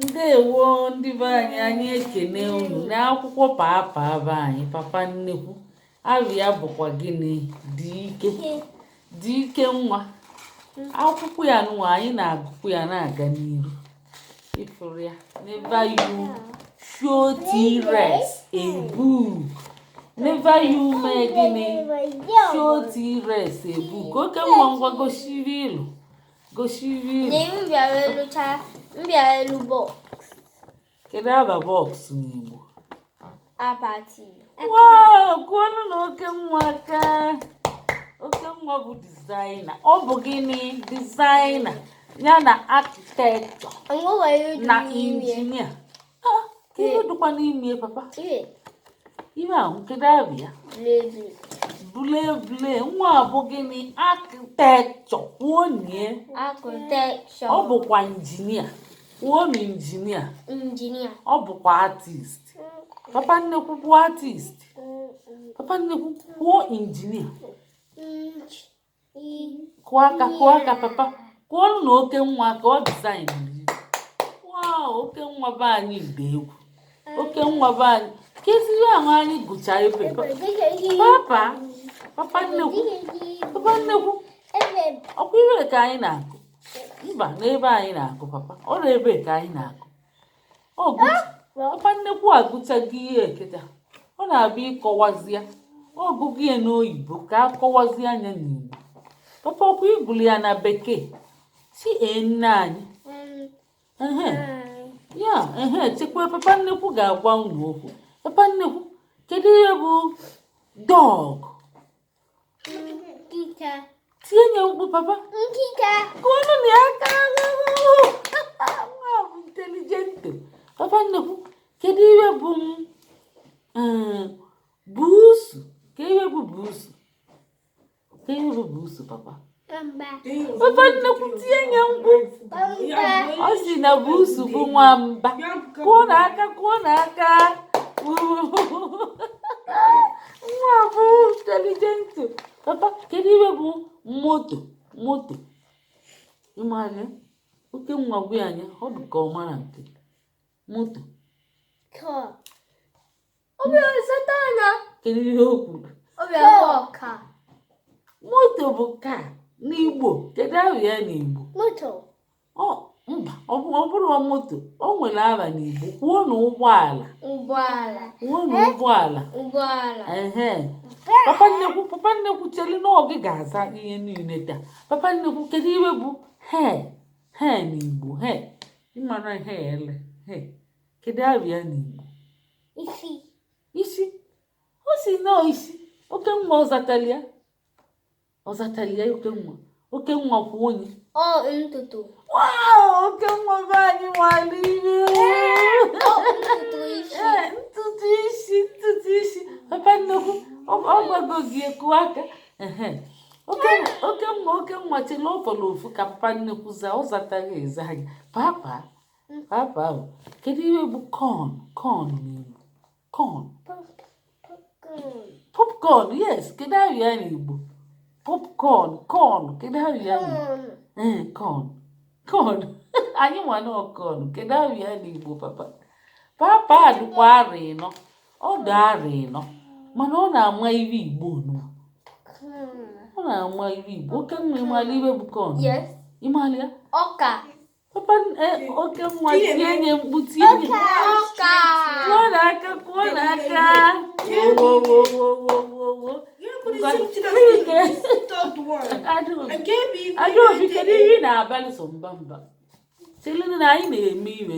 ndewo ndị be anyị anyị ekene unu n'akwụkwọ papa be anyị papa nnekwu afa ya bụkwa gịnị dike dike nwa akwụkwọ ya nwa anyị na-agụkwu ya na-aga n'iru ịfụrụ ya never you show t-rex a book never you mee gịnị show t-rex a book oke nwa ngwa gosiri ilu gosiri na m bịara elu chaa m bịara elu box kedu afa box n'igbo akpati wow kụọnụ na oke nwa aka oke nwa bụ designer ọ bụ gịnị designer ya na architecture na injinia ihe dịkwa n'ime papa ihe ahụ kedu afa ya blevle nwa ọ bụ gịnị architecture kwuonie ọ bụkwa injinia kwuonụ injinia ọ bụkwa artist papa nnekwu kwuo artist papa nnekwu kwuo injinia kụọ aka kụọ aka papa kụọnụ na oke nwa aka ọ bụ designer wow oke nwa be anyị dị egwu oke nwa be anyị kezi ihe ahụ anyị gụcha ibe papa papa nnekwu papa nnekwu ọkwa ebe ka anyị na-agụ mba n'ebe anyị na-agụ papa ọ na ebe ka anyị na-agụ papa nnekwu agụchago ya kịta ọ na-abịa ịkọwazi ya ọ gụgo ya n'oyibo ka a kọwazie anya n'igbo papa ọkwa ịgụrụ ya na bekee si nne anyị ya ehe chekwa papa nnekwu ga-agwa unu okwu papa nnekwu kedu ihe bụ dog Nkịta. Tienye mkpu papa. Nkịta. Kụọnụ m ya aka nwa bụ intelligent. Papa nnekwu, kedu ihe bụ m? Eh, buusu. Kedu ihe bụ buusu? Kedu ihe bụ buusu papa? papa nnekwu tienye mkpu ọ sị na buusu bụ nwamba kụọ na aka kụọ na aka nwa bụ intelligent papa kedu ihe bụ moto moto ị mara ya oke nwa gwa anyị ọ dị ka ọ mara nke moto kedu ihe o kwuru moto bụ car n'igbo kedu aha ya n'igbo mba ọ bụrọ moto o nwere aha n'igbo kwuo na ụgbọala kwuo na ụgbọala papa nnekwu papa nnekwu chelinu ọ gị ga-aza ihe niile taa papa nnekwu kedu ihe bụ hair hair n'igbo hair ị mara hair ele hair kedu aha ya n'igbo isi isi ọ sị na ọ isi oke nwa ọ zatalị ya ọ zatalị ya oke nwa oke nwa kwụ onye ọ ntutu oke nwa be anyị nwale ihe ntutu isi ntutu isi papa nnukwu ọ gwago gị kụọ aka oke nwa oke nwa chela ọ fọrọ ofu ka papa nnukwu zaa ọ zataghị eze anyị papa Papa o. Kedu ihe bụ corn corn n'Igbo? Corn. Popcorn, yes. Kedu aha ya n'Igbo? Popcorn, corn. Kedu aha ya n'Igbo? Ee, corn. Corn. Anyị ma na ọ corn. Kedu aha ya n'Igbo, papa? Papa adịkwa arọ ịnọ. Ọ dị arọ ịnọ. Mana ọ na-ama ihe Igbo nụ. Ọ na-ama ihe Igbo. Oke nwa ị mala ihe bụ corn. Yes. Ị mala ya? Ọka. Papa eh, oke nwa tinye nye mkpu tinye nye kụọnụ aka kụọnụ aka wowowowowowo adaobi kedu ihe ị na-abalị so mba mba chelinu na anyị na-eme iwe